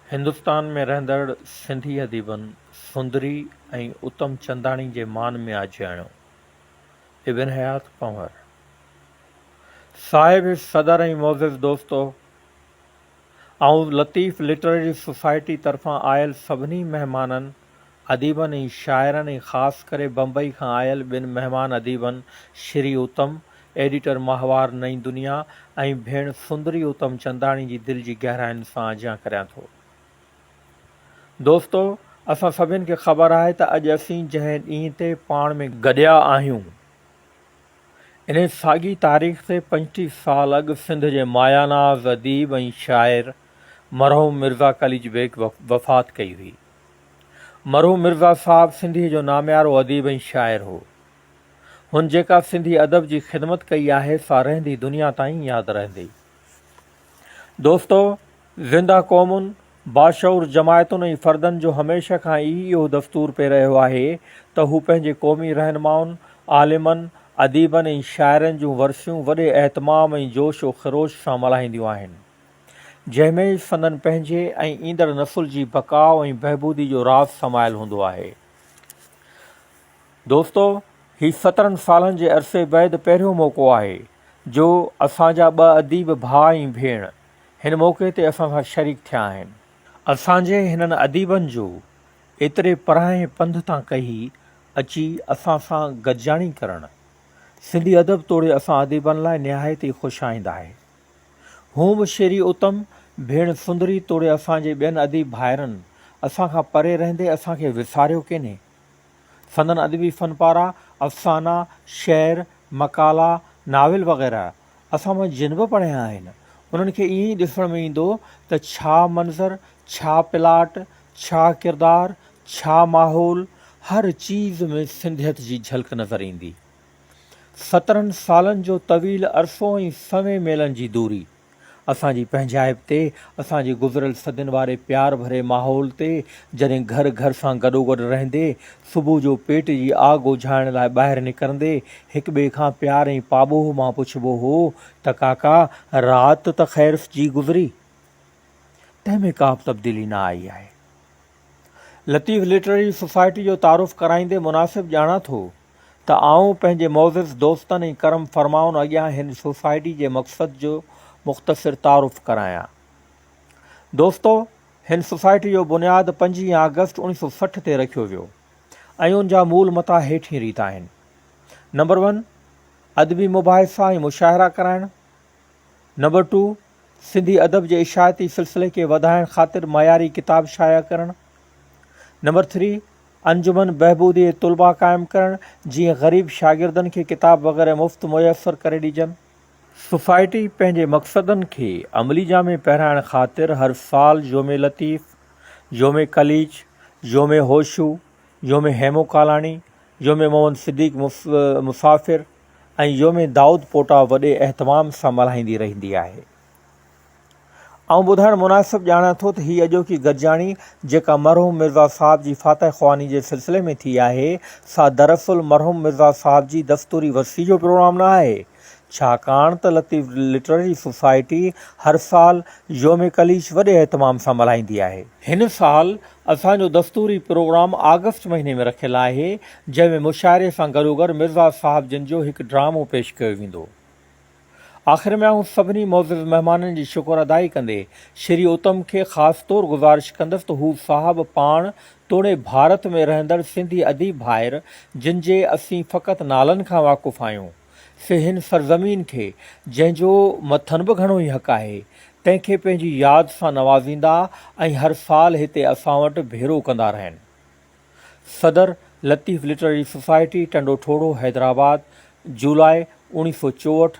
هندستان ۾ رهندڙ سنڌي اديبن سندري ۽ اتم چنداڻي جي مان ۾ آجياڻيو ابن حيات پنهور صاحب صدر ۽ معزز دوستو! آئون لطيف لٽرري سوسائٽي طرفان آيل سڀني مهمانن اديبن ۽ شاعرن ۽ خاص ڪري بمبئي کان آيل ٻن مهمان اديبن شري اتم، ايڊيٽر ماهوار نئين دنيا ۽ ڀيڻ سندري اتم چنداڻي جي دل جي گهراين سان اجهيان ڪريان ٿو. دوستو! اسان سڀني کي خبر آهي ته اڄ اسين جنهن ڏينهن تي پاڻ ۾ گڏيا آهيون، انهي ساڳي تاريخ تي پنجٽيهه سال اڳ سنڌ جي ماياناز اديب ۽ شاعر مرحوم مرزا قليچ بيگ وفات ڪئي هئي. مرحوم مرزا صاحب سنڌيء جو ناميارو اديب ۽ شاعر هو. هن جيڪا سنڌي ادب جي خدمت ڪئي آهي سا رهندي دنيا تائين ياد رهندي. دوستو! زنده قومن، باشعور جماعتن ۽ فردن جو هميشه کان ئي اهو دستور پئي رهيو آهي ته هو پنهنجي قومي رهنمائن، عالمن، اديبن ۽ شاعرن جون ورسيون وڏي اهتمام ۽ جوش و خروش سان ملهائينديون آهن. جنهن ۾ سندن پنهنجي ۽ ايندڙ نسل جي بقاء ۽ بهبودي جو راز سمايل هوندو آهي. دوستو هي سترن سالن جي عرصي بعد پهريون موقعو آهي جو اسان جا ٻه اديب ڀاء ۽ ڀيڻ هن موقعي تي اسان سان شريڪ ٿيا آهن. اسان جي هنن اديبن جو ايتري پرانهين پنڌ تان ڪهي اچي اسان سان گڏجاڻي ڪرڻ سنڌي ادب توڙي اسان اديبن لاء نهايت ئي خوش آئند آهي. هونء به شيري اتم، ڀيڻ سندري توڙي اسان جي ٻين اديب ڀائرن اسان کان پري رهندي اسان کي وساريو ڪينهي. سندن ادبي فن پارا، افسانا، شعر، مقالا، ناول وغيره اسان مان جن به پڙهيا آهن انهن کي ائين ئي ڏسڻ ۾ ايندو ته ڇا منظر، ڇا پلاٽ، ڇا ڪردار، ڇا ماحول هر چيز ۾ سنڌيت جي جهلڪ نظر ايندي. سترهن سالن جو طويل عرصو ۽ سوين ميلن جي دوري اسان جي پنهنجائپ تي اسان جي گذريل صدين واري پيار ڀري ماحول تي جڏهن گهر گهر سان گڏوگڏ رهندي صبح جو پيٽ جي آگ اوجهائڻ لاء ٻاهر نڪرندي هڪ ٻئي کان پيار ۽ پاٻوهه مان پڇبو هو ته ڪاڪا رات ته خير جي گذري تنهن ۾ ڪابه تبديلي نه آئي آهي لطيف لٽرري سوسائٽي جو تعارف ڪرائيندي مناسب ڄاڻان ٿو ته آئون پنهنجي معزز دوستن ۽ ڪرم فرمائن اڳيان هن سوسائٽي جي مقصد جو مختصر تعارف ڪرايان. دوستو! هن سوسائٽي جو بنياد پنجين آگسٽ اڻيهه سؤ سٺ تي رکيو ويو ۽ ان جا مول متا هيٺين ريت آهن، نمبر ون، ادبي مباحثا ۽ مشاعرا ڪرائڻ، نمبر ٽو، سنڌي ادب جي اشاعتي سلسلي کي وڌائڻ خاطر معياري ڪتاب شايع ڪرڻ، نمبر ٿري، انجمن بهبودي طلبا قائم ڪرڻ جيئن غريب شاگردن کي ڪتاب وغيره مفت ميسر ڪري ڏجن. سوسائٽي پنهنجي مقصدن کي عملي جامي پهرائڻ خاطر هر سال يوم لطيف، يوم قليچ، يوم هوشو، يوم هيمو ڪالاڻي، يوم محمد صديق مسافر ۽ يوم دائود پوٽا وڏي اهتمام سان ملهائيندي رهندي آهي. آئون ٻڌائڻ مناسب ڄاڻان ٿو ته هي اڄوڪي گڏجاڻي جيڪا مرحوم مرزا صاحب جي فاتح خواني جي سلسلي ۾ ٿي آهي سا دراصل مرحوم مرزا صاحب جي دستوري ورسي جو پروگرام نه آهي ڇاڪاڻ ته لطيف لٽرري سوسائٽي هر سال يوم قليچ وڏي اهتمام سان ملهائيندي آهي. هن سال اسان جو دستوري پروگرام آگسٽ مهيني ۾ رکيل آهي جنهن ۾ مشاعري سان گڏوگڏ مرزا صاحب جن جو هڪ ڊرامو پيش ڪيو ويندو. آخر ۾ آئون سڀني معزز مهمانن جي شڪر ادائي ڪندي شري اتم کي خاص طور گذارش ڪندس ته هو صاحب پاڻ توڙي ڀارت ۾ رهندڙ سنڌي اديب ڀائر جن جي اسين فقط نالن کان واقف آهيون سي هن سرزمين کي جنهن جو مٿن به گهڻو ئي حق آهي تنهن کي پنهنجي ياد سان نوازيندا ۽ هر سال هتي اسان وٽ ڀيرو ڪندا رهن. صدر، لطيف لٽرري سوسائٽي، ٽنڊو ٺوڙهو، حيدرآباد، جولاء، اوڻيهه سؤ چوهٺ،